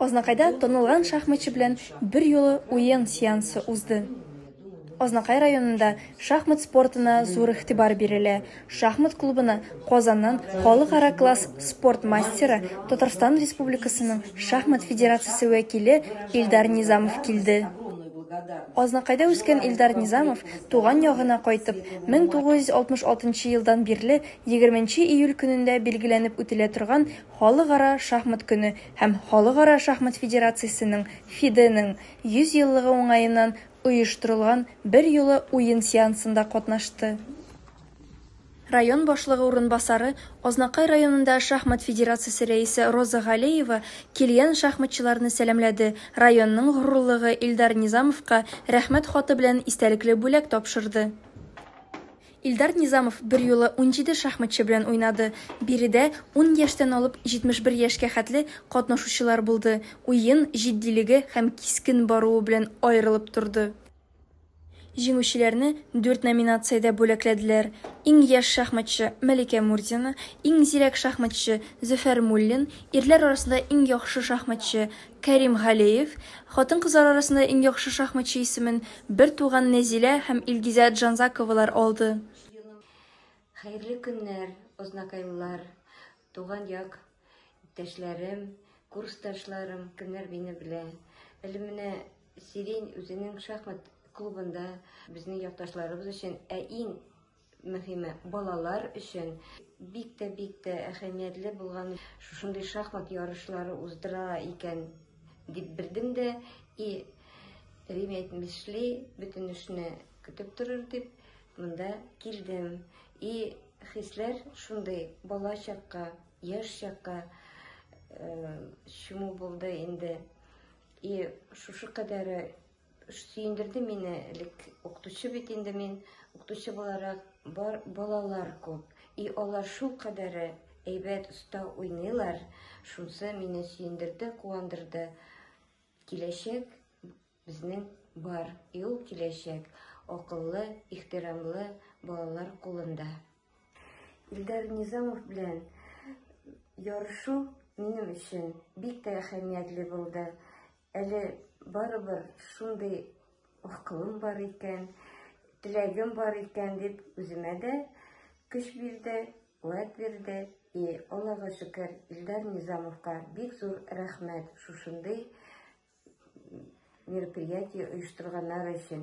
Азнакайда танылган шахматчы белән берьюлы уен сеансы узды. Азнакай районында шахмат спортына зур игътибар бирелә. Шахмат клубына Казаннан халыкара класс спорт мастеры, Татарстан Республикасының шахмат федерациясе вәкиле Илдар Низамов килде. Азнакайда үскән Илдар Низамов туган ягына кайтып, 1966 елдан бирле 20 нче июль көнендә билгеләнеп үтелә торган Халыкара шахмат көне һәм Халыкара шахмат федерациясенең, ФИДЕ, нең 100 еллыгы уңаеннан оештырылган берьюлы уен сеансында катнашты. Район башлыгы урынбасары, Азнакай районында шахмат федерациясе рәисе Роза Галеева килгән шахматчыларны сәламләде, районның горурлыгы Илдар Низамовка Рәхмәт хаты белән истәлекле бүләк тапшырды. Илдар Низамов берьюлы унҗиде шахматчы белән уйнады. Биредә ун яшьтән алып 71 яшькә хәтле катнашучылар булды. Уен җитдилеге һәм кискен баруы белән аерылып торды. Җиңүчеләрне дүрт номинациядә бүләкләделәр, иң яшь шахматчы, Мәликә Мурзина, иң зирәк шахматчы, Зөфәр Муллин, ирләр арасында иң яхшы шахматчы, Кәрим Галеев хатын-кызлар арасында иң яхшы шахматчы исемен бертуган Нәзилә һәм Илгизә Джанзаковалар алды. Хәерле көннәр, ознакайлылар, туган як иптәшләрем, курсташларым, кемнәр мине белә. Әле менә Сирень үзенең шахмат клубында безнең якташларыбыз өчен, ә иң мөһиме балалар өчен бик тә бик тә әһәмиятле булган шушындый шахмат ярышлары уздыра икән дип белдем дә и Рим әйтмешли бөтен эшне көтеп торыр дип монда килдем и хисләр шундый бала чакка яшь чакка э, чуму булды инде и шушы кадәре Сөендерде мине элек укытучы бит инде мин, укытучы буларак бар балалар күп. И алар шул кадәре әйбәт оста уйныйлар. Шунсы мине сөендерде, куандырды. Киләчәк безнең бар, и ул киләчәк акыллы, ихтирамлы балалар кулында. Илдар Низамов белән ярышу минем өчен бик тә әһәмиятле булды. Әле барыбер шундый акылым бар икән, теләгем бар икән дип үземә дә көч бирде, куәт бирде. И Аллага шөкер, Илдар Низамовка бик зур рәхмәт шушындый мероприятие оештырганнар өчен.